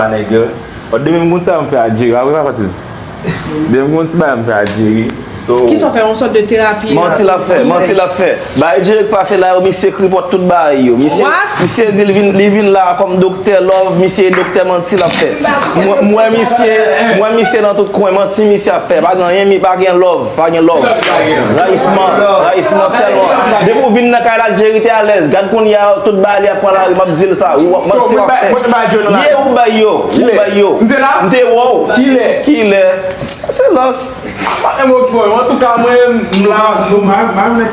Sa nèg yo. Oh demen m gon tan m fè a Jerry a wi pa patiz demen m gon ti bagay m fè a Jerry so Kisa w fè yon sòt de terapi a Manti lap fè manti lap fè Bagay Jerry k pase la yo misye kripòt tout bagay yo misye What? misye di li vin la a kòm doktè love misye e doktè manti lap fè m wè misye m wè misye nan tout kwen manti misye ap fè pa gen anyen mi pa gen love. Pa gen love. Rayisman. Rayisman selman. Depi ou vin nan kay la Jerry te alez. Gad kounya tout bagay li ap pran lari map dil sa. Ou ap manti wap fè. Yeah ou bay yo. Ou bay yo. M te wè w. Kilè. Silans. Antouka mwen m la.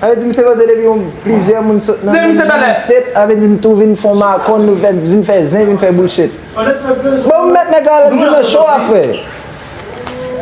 Sa vle di misye panse depi yon plizyè moun sot nan menm state sa vle di nou tou vin fon makòn nou vin fè zen vin fè bullshit. Bon ou met nèg la al vin nan show a frè.